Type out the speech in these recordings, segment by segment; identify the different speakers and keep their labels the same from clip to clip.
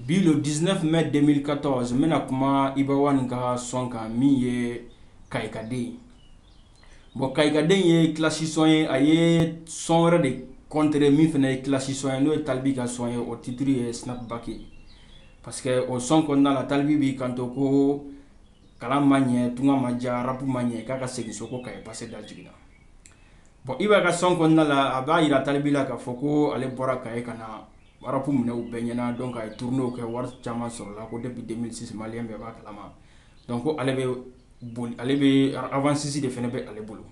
Speaker 1: Bi le 19 mai 2014 n bɛna kuma Iba Wani ka sɔn kan min ye kayikaden ye bon kayikaden ye kilasi sɔn ye a ye sɔn wɛrɛ de kɔntere min fana ye kilasi sɔn ye n'o ye Tal B ka sɔn ye o titiri ye sinapibaki ye parce que o sɔn kɔnɔna la Tal B b'i kanto ko kalan ma ɲɛ tunga ma diya rapu ma ɲɛ k'a ka segin so ko Kayi pase da jiginna bon Iba ka sɔn kɔnɔna la a b'a jira Tal B la k'a fɔ ko ale bɔra Kayi ka na Wara ku minɛ u bɛɛ ɲɛna donc a ye turunew kɛ wari caman sɔrɔla ko de bɛ denmisɛnninsi Mali bɛɛ b'a kalama donc ale ale bɛ awsisi de fana bɛ ale bolo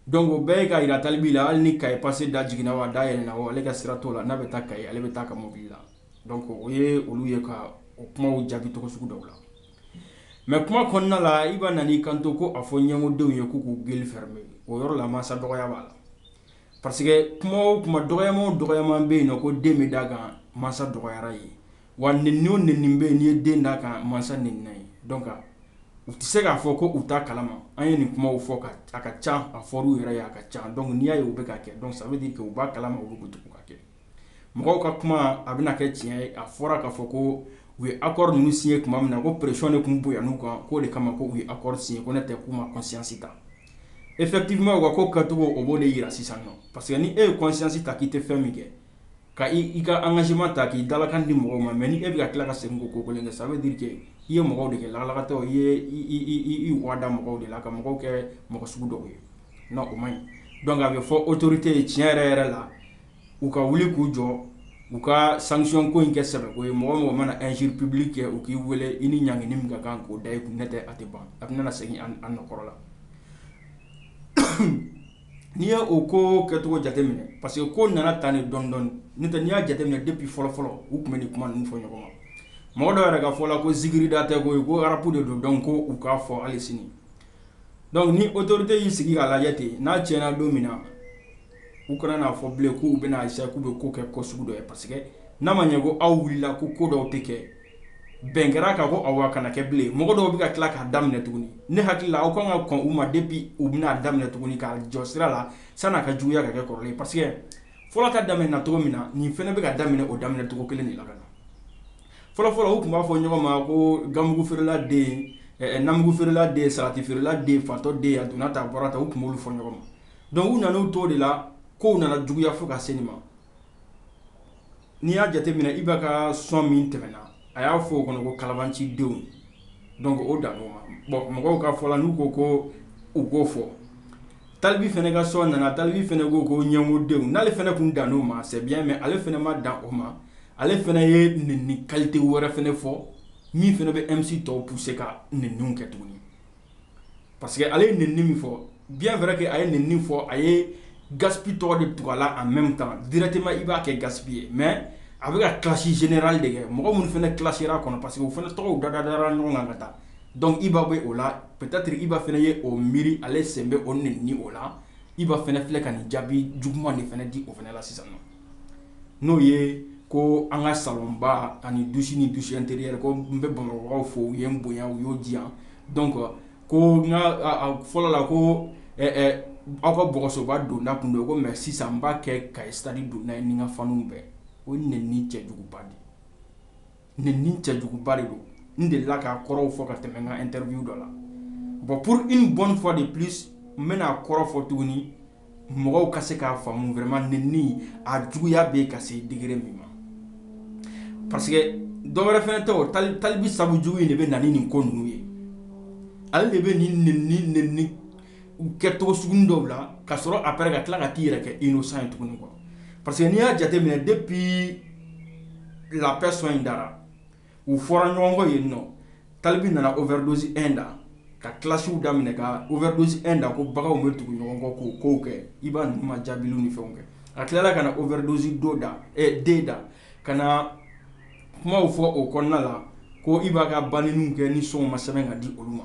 Speaker 1: donc o bɛɛ ye k'a jira Tal B la hali ni Kayi pase da jiginna wa da yɛlɛnna o ale ka sira t'o la n'a bɛ taa Kayi ale bɛ taa a ka mobili la donc o ye olu ye ka o kumaw jaabi cogo sugu dɔw la mɛ kuma kɔnɔna la Iba nan'i kanto ko a fɔ ɲɛngodenw ye k'u k'u gueule fermer o yɔrɔ la masa dɔgɔya b'a la parce que kuma o kuma dɔgɔyama o dɔgɔyama bɛ yen n'o ko den bɛ d'a kan mansa dɔgɔyara ye wa nɛni o nɛni bɛ yen n'i ye den d'a kan mansa nɛnina ye donc u tɛ se k'a fɔ ko u t'a kalama an ye nin kumaw fɔ a ka ca a fɔr'u yɛrɛ ye a ka ca donc n'i y'a ye u bɛ k'a kɛ donc ça veut dire que u b'a kalama u bɛ k'u tugu k'a kɛ mɔgɔw ka kuma a bɛna kɛ tiɲɛ ye a fɔra k'a fɔ ko u ye akɔri ninnu siɲe tuma min na ko presiyɔn de tun bonyan'u kan k'o de kama ko u ye akɔri siɲe ko n'o tɛ k'u ma conscience ta effectivement wa ko kɛcogo o b'o de jira sisan non parce que ni e ye conscience ta k'i tɛ fɛn min kɛ ka i ka engagement ta k'i dalakan di mɔgɔw ma mɛ ni e bɛ ka tila ka segin k'o ko kɛ ça veut dire que i ye mɔgɔw de kɛ lagalagatɔ i ye i yada mɔgɔw de la ka mɔgɔw kɛ mɔgɔ sugu dɔw ye o ma ɲi donc a bɛ fɔ otoritew ye tiɲɛ yɛrɛ yɛrɛ la u ka wuli k'u jɔ u ka sɔnko in kɛ sɛbɛko ye mɔgɔ o mɔgɔ mana injure publique kɛ u k'i weele i ni ɲangi min ka kan k'o da i kun n'o tɛ a tɛ ban a bɛna segin an kɔrɔ la n'i y' o ko kɛcogo jateminɛ parce que ko nana tan ni dɔɔnin dɔɔnin de n'i y'a jateminɛ depuis fɔlɔfɔlɔ u tun bɛ nin kuma fɔ ɲɔgɔn ma mɔgɔ dɔw yɛrɛ ka fɔ la ko injure de tɛ ko ko rapu de don donc u k'a fɔ hali sini donc ni otorite y'i sigi k'a lajɛ ten n'a tiɲɛna don min na U kana n'a fɔ bilen k'u bɛna eseye k'u bɛ ko kɛ ko sugu dɔ ye parce que n'a ma ɲɛ ko aw wulila ko ko dɔw tɛ kɛ bɛn kɛra ka ko aw wa kana kɛ bilen mɔgɔ dɔw bɛ ka tila k'a daminɛ tuguni ne hakili la aw kan ka kɔn u ma depuis u bɛn'a daminɛ tuguni k'a jɔ sira la sann'a ka juguya ka kɛ kɔrɔ parce que fɔlɔ ta daminɛna cogo min na nin fana bɛ ka daminɛ o daminɛ cogo kelen de la ka na fɔlɔfɔlɔ u tun b'a fɔ ɲɔgɔn ma ko ganmugu feerela den namugu feerela den salati feerela den fatɔ den a donna ta bɔra ta u tun b'olu fɔ ɲɔgɔn ma Dɔnku u nana u to de la ko nana juguyaya fo ka se ma n'i y'a jateminɛ IBA ka son min tɛmɛna a y'a fɔ oo kɔnɔ ko kalamancidenw o dan bɔn mɔgɔw ka fɔ la n'u ko ko u k'o fɔ Tal B fana ka son nana Tal B fana ko ko ɲamɔgɔden n'ale fana tun dan o ma sa mais ale fana ma dan o ma ale fana ye nɛni kalite wɛrɛ fana fɔ min fana bɛ e misi tɔw pousser ka nɛniw kɛ tuguni parce que ale ye nɛni min fɔ bien vrai que a ye nɛni fɔ a ye Gaspi tɔgɔ de tugu a la en meme temps directement i b'a kɛ Gaspi ye mais a bɛ ka clash generale de kɛ mɔgɔ minnu fana clasher la a kɔnɔ parce que u fana tɔgɔw da da dara ɲɔgɔn kan ka taa donc IBA bɛ o la peut être IBA fana ye o miiri ale sen bɛ o nɛni o la IBA fana filɛ ka nɛni jaabi juguman de fana di o fana la sisan nɔ. n'o ye ko an ka salonba ani douche ni douche interieur ko n bɛ bamakɔkaw fo u ye n bonya u y'o jiya donc ko fɔlɔ la ko aw ka bɔgɔsoba donda tun don ko mais sisan n b'a kɛ ka stade donda ye ni n ka fanw bɛɛ o nɛni cɛjuguba de Nɛni cɛjuguba de don n delila k'a kɔrɔw fɔ ka tɛmɛ n n ka interview dɔ la bon pour une bonne fois de plus n bɛna a kɔrɔw fɔ tuguni mɔgɔw ka se k'a faamu vraiment nɛni a juguya bɛ ka se degre min ma parce que dɔ wɛrɛ fana tɛ Tal B sabu jugu in de bɛ na ni nin ko ninnu ye ale de bɛ nin nɛni nin u kɛ tɔgɔ sugu dɔw la ka sɔrɔ apres ka tila ka t'i yɛrɛ kɛ innocent ye tuguni kɔ parce que n'i y'a jateminɛ depuis La Paix son in dara u fɔra ɲɔgɔn kɔ ye nɔ Tal B nana o version da ka clashw da minɛ ka u vɛdo e da ko bagan bɛ tugu ɲɔgɔn kɔ k'o ko kɛ IBA ninnu ma jaabi ni fɛn kɛ a tilala ka na o version deux da ɛ den da ka na kumaw fɔ o kɔnɔna la ko IBA ka ban kɛ ni son ma sɛbɛn ka di olu ma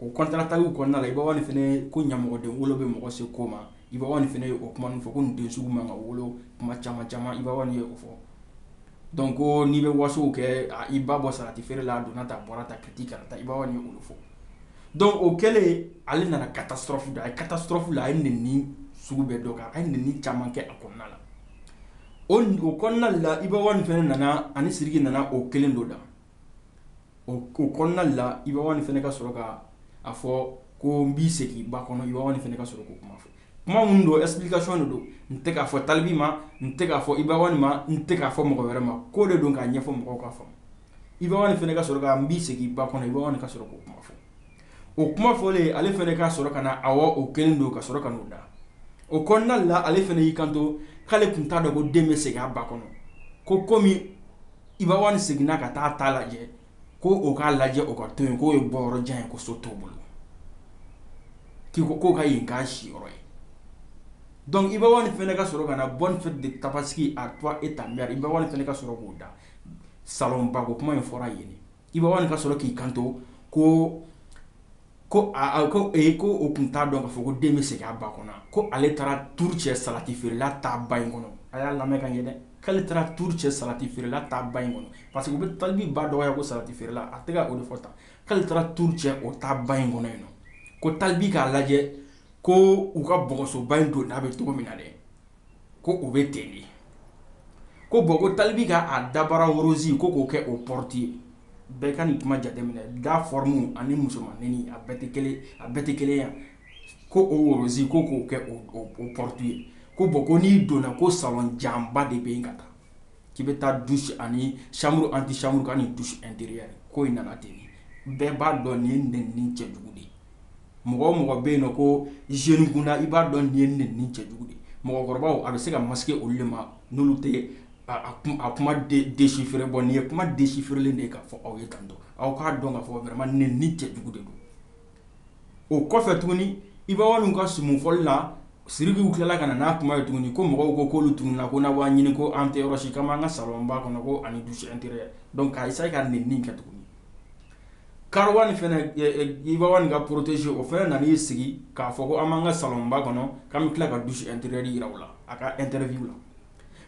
Speaker 1: O kɔntan ta kɔnɔna la IBA One fana ko ɲamɔgɔden wolo bɛ mɔgɔ se ko ma IBA One fana y'o kuma fɔ ko den juguman ka wolo kuma caman caman IBA ye o fɔ dɔnku ko n'i bɛ wasow kɛ i ba bɔ sarati feere la a donna ta bɔra ta kiti ka taa IBA ye olu fɔ dɔnku o kɛlen ale nana ka taa sɔrɔfu a ye ka taa sɔrɔfu la a ye nɛni sugu bɛɛ dɔ kan a ye nɛni caman kɛ a kɔnɔna la o kɔnɔna la IBA One fana nana ani siri nana o kelen don la o ko kɔnɔnali la IBA One fana ka sɔrɔ ka a fɔ ko n b'i segin ba kɔnɔ IBA One fana ka sɔrɔ k'o kuma fɔ kuma minnu don explication de don n tɛ k'a fɔ Tal B ma n tɛ k'a fɔ IBA ma n tɛ k'a fɔ mɔgɔ wɛrɛ ma ko de don k'a ɲɛfɔ mɔgɔw ka fɔ IBA One fana ka sɔrɔ n b'i segin ba kɔnɔ IBA ka sɔrɔ k'o kuma fɔ o kuma fɔlen ale fana ka sɔrɔ ka na a o kelen don ka sɔrɔ k'o da o kɔnɔnali la ale fana y'i kanto k'ale tun t'a dɔn ko den bɛ segin a ba kɔnɔ ko komi Iba One seginna ka taa ta lajɛ ko o k'a lajɛ o ka to yen k'o ye bɔyɔrɔ jan ye ko so t'o bolo ko o ka yen k'a siyɔrɔ ye donc Iba One fana ka sɔrɔ ka na bonne fête de Tabaski à toi et ta mère Iba One fana ka sɔrɔ k'o da salonbako kuma in fɔra yen Iba One ka sɔrɔ k'i kanto ko ko ko e ko o tun t'a dɔn ka fɔ ko den bɛ segin a ba kɔnɔ ko ale taara tu cɛ salati feerela ta ba in kɔnɔ a y'a lamɛn ka ɲɛ dɛ k'ale taara tu cɛ salati feerela ta ba in kɔnɔ parce que a bɛ Tal B ba dɔgɔya ko salati feerela a tɛgɛ o de fɔ ta k'ale taara tu cɛ o ta ba in kɔnɔ in ko Tal B k'a lajɛ ko u ka bɔgɔsoba in don n'a bɛ cogo min na dɛ ko o bɛ ten de ko bon ko Tal B k'a dabara wo rose ko k'o kɛ o porte ye bɛɛ ka nin kuma jateminɛ da forme ani musomannin a bɛɛti kelen a bɛɛti kelen yan ko o wo rose ko k'o kɛ porte ye ko bon ko n'i donna ko salon janba de bɛ yen ka taa k'i bɛ taa douche ani chambre antichambre ani douche intérieure ko in nana ten bɛɛ b'a dɔn nin nenni cɛjugu de ye mɔgɔ o mɔgɔ bɛ yen ko jeune i b'a dɔn nin nenni cɛjugu mɔgɔkɔrɔba a bɛ se ka ma olu de ma n'olu tɛ a kuma déchiffrer bon nin ye kuma déchiffrélen de ye ka fɔ aw ye kan aw k'a dɔn ka fɔ wɛrɛ nenni cɛjugu de don o kɔfɛ tuguni Iba ka son fɔlila Sidiki tilala ka n'a kuma ye tuguni ko mɔgɔw ko koolu tun na ko na' ɲini ko an tɛ yɔrɔsi ka an ka salon kɔnɔ ko ani douche intérieure donc k' sa ka nin min kɛ tuguni Karowan fana Iba One ka protégé o fana nana y'i sigi k'a fɔ ko an b'an ka salonba kɔnɔ k'an bɛ tila ka douche intérieure jira u la a ka interview la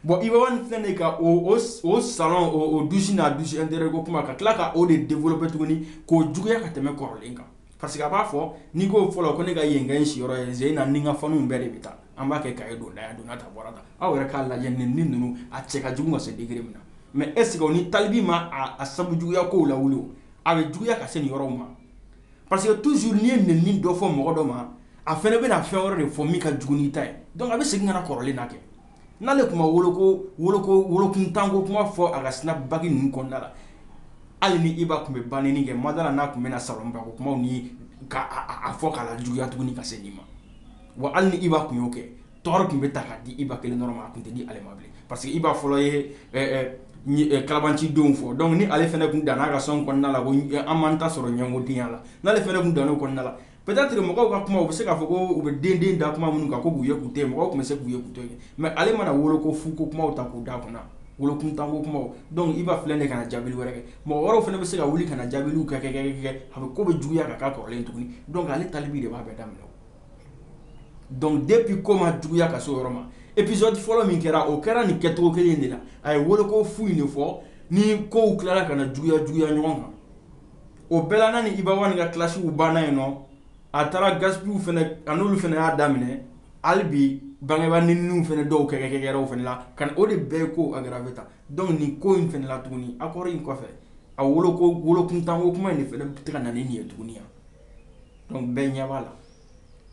Speaker 1: bon Iba One fana ka o salon o douche n'a douche intérieure ko kuma ka tila ka o de développer tuguni k'o juguya ka tɛmɛ kɔrɔlen kan parce que a b'a fɔ n'i k'o fɔlɔ ko ne ka yen kɛ n siyɔrɔ ye z in na ni ka fanw bɛɛ de bɛ taa An b'a kɛ cahier don da ye, a donna tan, a bɔra tan. Aw yɛrɛ k'a lajɛ nenni ninnu a cɛ ka jugu ka se degré min na mais est ce que o ni Tal B ma a sabu juguya kow lawuli o, a bɛ juguya ka se nin yɔrɔw ma? Parce que toujours n'i ye nenni dɔ fɔ mɔgɔ dɔ ma, a fana bɛna fɛn wɛrɛ de fɔ min ka jugu n'i ta ye donc a bɛ segin ka na kɔrɔlen na kɛ. N'ale tun ma woloko, woloko, wolokuntanko kuma fɔ a ka snapback ninnu kɔnɔna la, hali ni Iba tun bɛ banenni kɛ, n ma d'a la n'a tun bɛna salonbako kumaw ni ka a fɔ k'a lajuguya tuguni ka se nin ma. Wa hali ni Iba tun y'o kɛ, tort tun bɛ ta k'a di Iba kelen dɔrɔn ma, a tun tɛ di ale ma bilen parce que Iba fɔlɔ ye ɛ kalabancidenw fɔ donc ni ale fana tun danna a ka son kɔnɔna la ko an m'an ta sɔrɔ ɲɛngodenya la, n'ale fana tun dann'o kɔnɔna la peut être mɔgɔw ka kuma u bɛ se k'a fɔ ko u bɛ den den da kuma minnu kan ko k'u ye k'u to yen, mɔgɔw tun bɛ se k'u ye k'u to yen mais ale mana wolo ko fu ko kumaw ta k'u da kunna, wolokuntanko kumaw donc Iba filɛ nin ye ka na jaabili wɛrɛ kɛ, mɔgɔ wɛrɛw fana bɛ se ka wuli ka na jaabiliw kɛ-kɛ-kɛ a bɛ ko bɛ juguya ka k'a kɔrɔlen tuguni donc ale Tal B de b'a bɛɛ daminɛ donc depuis ko ma juguya ka se o yɔrɔ ma épisode fɔlɔ min kɛra o kɛra nin kɛcogo kelen de la a ye woloko fu in de fɔ ni kow tilara ka na juguya juguya ɲɔgɔn kan o bɛɛ la n'a ni Iba One ka clashw banna yen nɔ a taara Gaspiw fɛnɛ a n'olu fɛnɛ y'a daminɛ hali bi bangebaa nɛniniw fɛnɛ dɔw kɛkɛkɛkɛra o fɛnɛ la ka o de bɛ ko aggraver ta donc nin ko in fɛnɛ la tuguni accord in kɔfɛ a woloko wolokuntanko kuma in de fɛnɛ tɛ ka na ni nin ye tuguni yan bɛɛ ɲɛ b'a la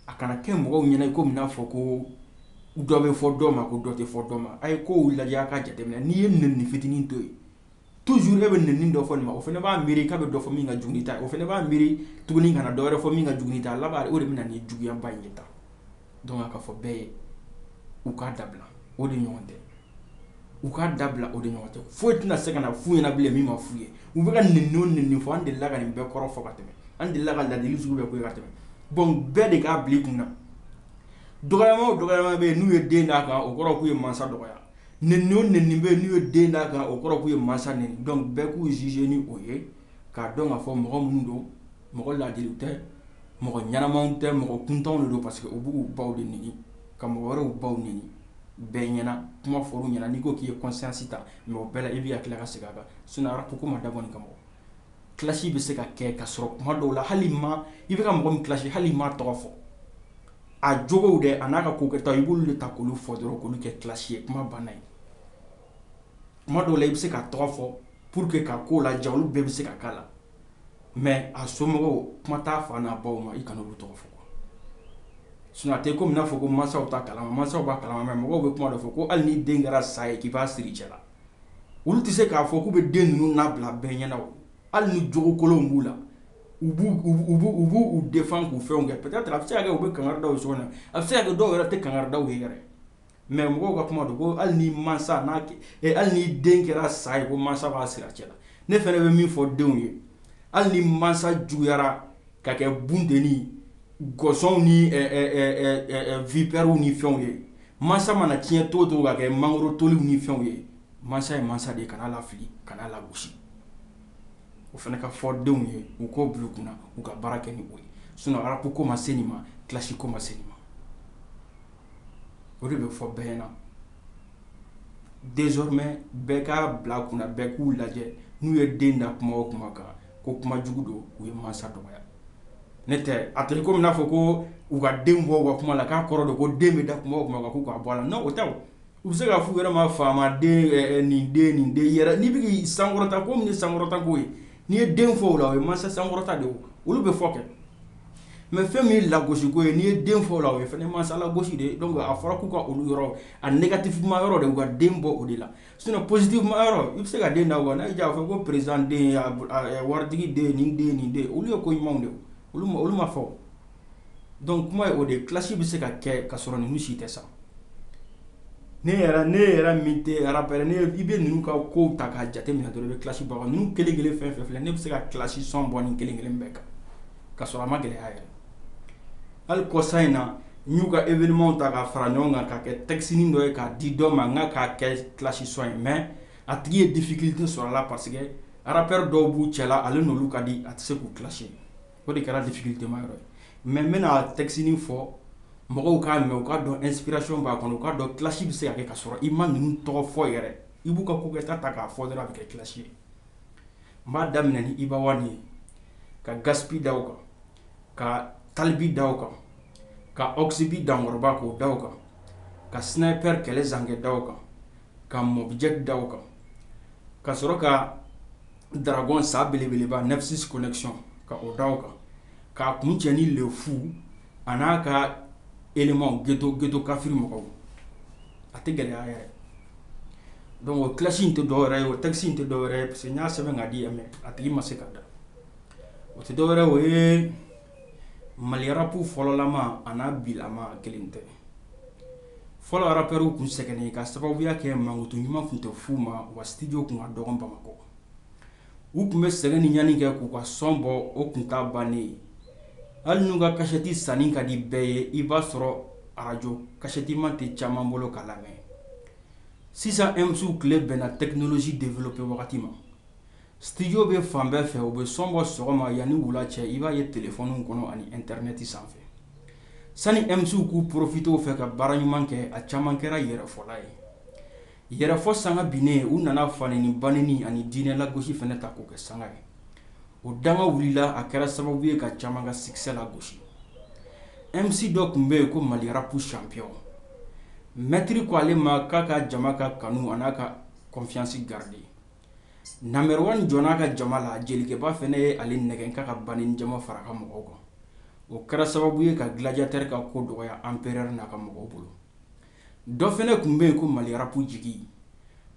Speaker 1: a kana kɛ mɔgɔw ɲɛna i ko n'a fɔ ko dɔ bɛ fɔ dɔ ma ko dɔ tɛ fɔ dɔ ma a ye ko lajɛ a ka jate minɛ n'i ye nɛnini fitinin to yen toujours a bɛ nɛnini dɔ fɔ nin ma o fɛnɛ b'a miiri k'a bɛ dɔ fɔ min ka jugu nin ta o fɛnɛ b'a miiri tuguni ka na dɔ wɛrɛ fɔ min ka jugu nin ta laban o de bɛ na ni juguyaba in ye tan Donc a ka fɔ bɛɛ ye u k'a dabila o de ɲɔgɔn tɛ u k'a dabila o de ɲɔgɔn tɛ foyi tɛna se ka na fɔ u ɲɛna bilen min ma fɔ u ye u bɛ ka nin ninnu nɛnini fɔ an delila ka nin bɛɛ kɔrɔ fɔ ka tɛmɛ an delila ka ladili sugu bɛɛ ka tɛmɛ bon bɛɛ de k'a bila kun na dɔgɔya dɔ bɛ yen n'u ye den d'a kan o kɔrɔ k'u ye mansa dɔgɔya nɛnini bɛ n'u ye den d'a kan o kɔrɔ k'u ye mansa nɛni donc bɛɛ k'u juger ni o ye k'a dɔn k'a fɔ mɔgɔ minnu don mɔgɔ ladilen tɛ mɔgɔ ɲɛnama tɛ mɔgɔ kuntanw de don parce que u b'u baw de nɛni ka mɔgɔ wɛrɛw baw nɛni bɛɛ ɲɛna kuma fɔ ɲɛna n'i ko k'i ye kɔsisi ta mɔgɔ bɛɛ i bɛ tila ka segin a kan sinon ko ko ma da kɔni kama clash bɛ se ka kɛ ka sɔrɔ kuma dɔw la hali ma i bɛ ka mɔgɔ min clash hali i m'a tɔgɔ fɔ a jogow de a n'a ka ko kɛta i b'olu de ta k olu fɔ dɔrɔn k'olu kɛ clash ye kuma banna ye kuma dɔw la i bɛ se ka tɔgɔ fɔ pour que ka ko la ja olu bɛɛ bɛ se ka kala la mɛ a somɔgɔw kuma t'a fa n'a baw ma i kana olu tɔgɔ fɔ sinon tɛ ko n'a fɔ ko mansaw t'a kalama mansaw b'a kalama mɛ mɔgɔw bɛ kuma dɔ fɔ ko hali ni den kɛra sa ye k'i b'a siri i cɛ la olu tɛ se k'a fɔ k'u bɛ den ninnu labila bɛɛ ɲɛna hali ni jogo kolon b'u la u u b'u défendre k'u fɛnw kɛ peut-être a bɛ se' kɛ u bɛ kangari da so na a bɛ se' kɛ dɔw yɛrɛ tɛ kangari da ye yɛrɛ Mɛ mɔgɔw ka kuma don ko hali ni masa n'a kɛ hali ni den kɛra sa ye ko masa b'a siri a cɛ la ne fana bɛ min fɔ denw ye hali ni masa juguyara ka kɛ bunteni saw ni vipèrew ni fɛnw ye masa mana tiɲɛ to to ka kɛ mangoro toli ni fɛnw ye masa ye masa de ye kana lafili ka lagosi o fana ka fɔ denw ye u k'o bila u kun na u ka baara kɛ ni o ye sinon ko ma se ma clash ko ma se ma o de bɛ fɔ bɛɛ ɲɛna désormais bɛɛ k'a bila kun bɛɛ k'u lajɛ n'u ye den da kuma o kuma kan ko kuma jugu don u ye mansa dɔgɔya ne tɛ à dire k'a fɔ ko u ka den bɔ ka kuma la k'a kɔrɔ don ko den bɛ da kuma o kuma k'u ka bɔ la o tɛ u bɛ se k'a fɔ u yɛrɛ ma faama den nin den nin den yɛrɛ n'i bɛ sankɔrɔta ko sankɔrɔta' ye n'i ye den fɔ o la o ye mansa sankɔrɔta de olu bɛ fɔ kɛ mɛ fɛn min ye lagosiko ye n'i ye den fɔ la o ye fɛn masa lagosi de don a fɔra k'u ka olu yɔrɔ a negatifuman yɔrɔ de u ka den bɔ o de la sinɔn pozitifuman yɔrɔ i bɛ se ka den da wa n'a y'a fɔ ko perezidan waritigi den nin den nin den olu ye ko ɲumanw de olu ma fɔ dɔnki kuma ye o de kilasi bɛ se ka kɛ ka sɔrɔ ninnu si tɛ sa ne ne yɛrɛ min tɛ arapɛri i bɛ ninnu ka ko ta k'a jateminɛ dɔrɔn i bɛ kilasi bɔ nin kelen kelen fɛn fɛn filɛ ne bɛ se ka kilasi sɔn bɔ nin kelen kelen bɛɛ kan ka sɔrɔ a ma gɛlɛya yɛrɛ hali kɔsa in na n y'u ka evenimaw ta ka fara ɲɔgɔn kan ka kɛ tɛkisinin dɔ ye k'a di dɔ ma n k'a kɛ kilasi sɔn in mɛ a tigi ye difikilite sɔrɔ a la paseke arapɛri dɔw b'u cɛla la ale n'olu ka di a tɛ se k'u kilasi O de kɛra difikilitema yɔrɔ mɛ n bɛna tɛkisinin fɔ mɔgɔw k'a mɛ u k'a dɔn ɛnsipirasiyɔn b'a kɔnɔ u k'a dɔn kilasi bɛ se ka kɛ ka sɔrɔ i ma ninnu tɔgɔ fɔ yɛrɛ i b'u ka kokɛta ta k'a fɔ dɔrɔn a bɛ kɛ kilasi ye n b'a daminɛ ni Iba One ye ka Gaspi da kan ka Tal B da kan ka Ox B dankɔrɔba k'o da kan ka Sniper kɛlɛ zankɛ da kan ka Mobjack da kan ka sɔrɔ ka Dragon sa belebeleba Nexus connection ka o da o kan k'a kuncɛ ni le fou an'a ka éléments ghetto ghetto kafiri mɔgɔw a tɛ gɛlɛya yɛrɛ donc o clash in tɛ dɔ wɛrɛ ye o texte in tɛ dɔ wɛrɛ ye parce que n y'a sɛbɛn k'a di yan mais a tigi ma se k'a da o tɛ dɔ wɛrɛ ye o ye mali rap fɔlɔlama an'a bilama kelen tɛ fɔlɔ arapɛriw tun sɛgɛnnen ka sababuya kɛ mankutu ɲuman tun tɛ f'u ma wa studio tun ka dɔgɔn bamakɔ u tun bɛ sɛgɛn ni ɲani kɛ k'u ka sɔn bɔ o tun t'a bannen ye hali n'u ka kasɛti sanni ka di bɛɛ ye i b'a sɔrɔ arajo kasɛtima tɛ caman bolo k'a lamɛn sisan MCw tile bɛnna tɛkinolozi develope wagati ma Studio bɛ fan bɛɛ fɛ u bɛ sɔn bɔ sɔgɔma yan ni wula cɛ i b'a ye téléphonew kɔnɔ ani internet sanfɛ sani MCw k'u profité o fɛ ka baara ɲuman kɛ a caman kɛra yɛrɛfɔla ye yɛrɛfɔ sanga binnen u nana fanɛni banɛni ani diinɛ lagosi fana ta k'o kɛ sanga ye o danga wulila a kɛra sababu ye ka caman ka succès lagosi MC dɔ tun bɛ yen ko Mali rap champion maitre ko ale ma k'a ka jama ka kanu an'a ka confiance garder Number one jɔnna a ka jama la jelikɛba fana ye ale nɛgɛn ka ka ban ni jama fara a ka mɔgɔw kan o kɛra sababu ye ka gladiateur ka ko dɔgɔya empereur n'a ka mɔgɔw bolo dɔ fana tun bɛ yen ko Mali rap jigi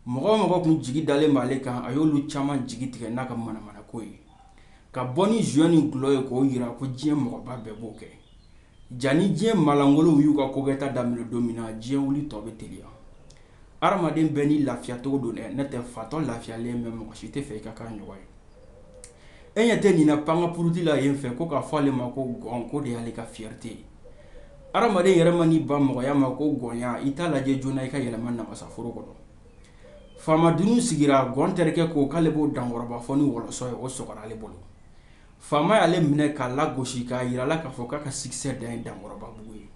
Speaker 1: mɔgɔ o mɔgɔ tun jigi dalen b'ale kan a y'olu caman jigi tigɛ n'a ka manamanako ye ka bɔ ni joint ni dulɔ ye k'o jira ko diɲɛ mɔgɔba bɛɛ b'o kɛ Jaa ni diɲɛ malankolonw y'u ka kokɛta daminɛ don min na diɲɛ wuli tɔ bɛ teliya hadamaden bɛɛ n'i lafiyacogo don dɛ ne tɛ fatɔ lafiyalen bɛ mɔgɔ si tɛ fɛ i ka kan ɲɔgɔn ye e ɲɛ tɛ nin pan ka porote la yen fɛ ko k'a fɔ ale ma ko gɔn k'o de y'ale ka fiyɛrite ye adamaden yɛrɛ man'i ban mɔgɔya ma ko gɔnya i t'a lajɛ joona i ka yɛlɛma namasaforo kɔnɔ faama dunun sigira gɔn terikɛ ko k'ale b'o dankɔrɔba fɔ ni wɔlɔsɔ ye o sɔgɔra ale bolo Faama y'ale minɛ k'a lagosi k'a jira a la k'a fɔ k'a ka sikisɛ dan ye dankɔrɔbabugu ye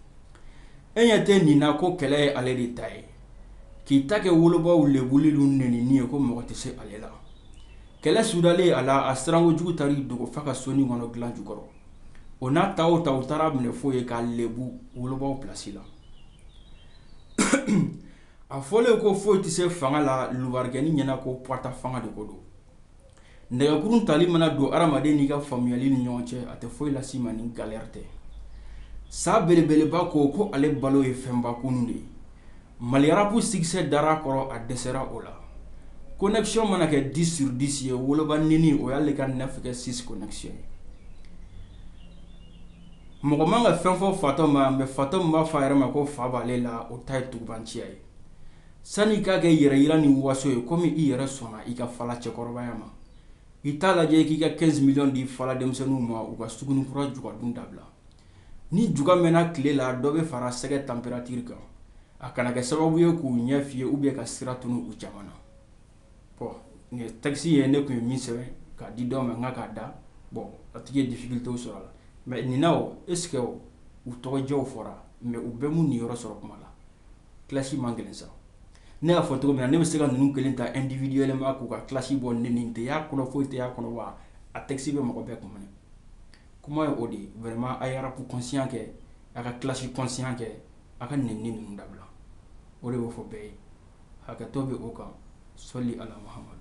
Speaker 1: e ɲɛ tɛ nin na ko kɛlɛ ye ale de ta ye k'i ta kɛ wolobaw lɛbuli ye ko mɔgɔ tɛ se ale la kɛlɛ sudalen a la a sirankojugu taa dogo fa ka so nin kɔnɔ dilan jukɔrɔ o n'a ta ta u taar'a minɛ foyi ye k'a lɛbu wolobaw pilasi la a fɔlen ko foyi tɛ se fanga la lubarikɛnin ɲɛna ko pata fanga de ko don nɛgɛkun tali mana don adamaden n'i ka faamuyali ni ɲɔgɔn cɛ a tɛ foyi lase i ma ni galɛri tɛ sa belebeleba ko ko ale balo ye fɛnba kunun de ye Mali rapu sikisɛ dara kɔrɔ a dɛsɛra o la kɔnɛkisiyɔn mana kɛ disi suri disi ye woloba nɛni o y'ale ka nɛgɛ sisi ye mɔgɔ man ka fɛn fɔ fatɔ ma mɛ fatɔ b'a fɔ a yɛrɛ ma ko fa b'ale la o ta ye tugubaanciya ye Sani i k'a kɛ yɛrɛ yira ni waso ye komi i yɛrɛ sɔnna i ka fala cɛkɔrɔbaya ma, i t'a lajɛ i k'i ka 15 millions di fala denmisɛnninw ma u ka Sugunikura juga dun dabila. Ni juga mɛnna tile la, dɔ bɛ fara sɛgɛ tanperatiri kan, a kana kɛ sababu ye k'u ɲɛ fiye oubien ka sira tunu u caman na. Bon nin ye texte ye ne tun ye min sɛbɛn k'a di dɔ ma n ka k'a da, bon a tigi ye difficultes sɔrɔ a la mais nin na o est ce que u tɔgɔjɛw fɔra mais u bɛɛ m'u niyɔrɔ sɔrɔ kuma la? kilasi man gɛlɛn sa ne y'a fɔ cogo min na ne bɛ se ka ninnu kelen ta individuellement k'u ka kilasi bɔ nɛni tɛ y'a kɔnɔ foyi tɛ y'a kɔnɔ wa a tɛkisi bɛ mɔgɔ bɛɛ kun minɛ kuma ye o de ye vraiment a ye rapu conscient kɛ a ka kilasi conscient kɛ a ka nɛni ni ninnu dabila o de bɛ fɔ bɛɛ ye hakɛto bɛ o kan sɔli ala Muhamadu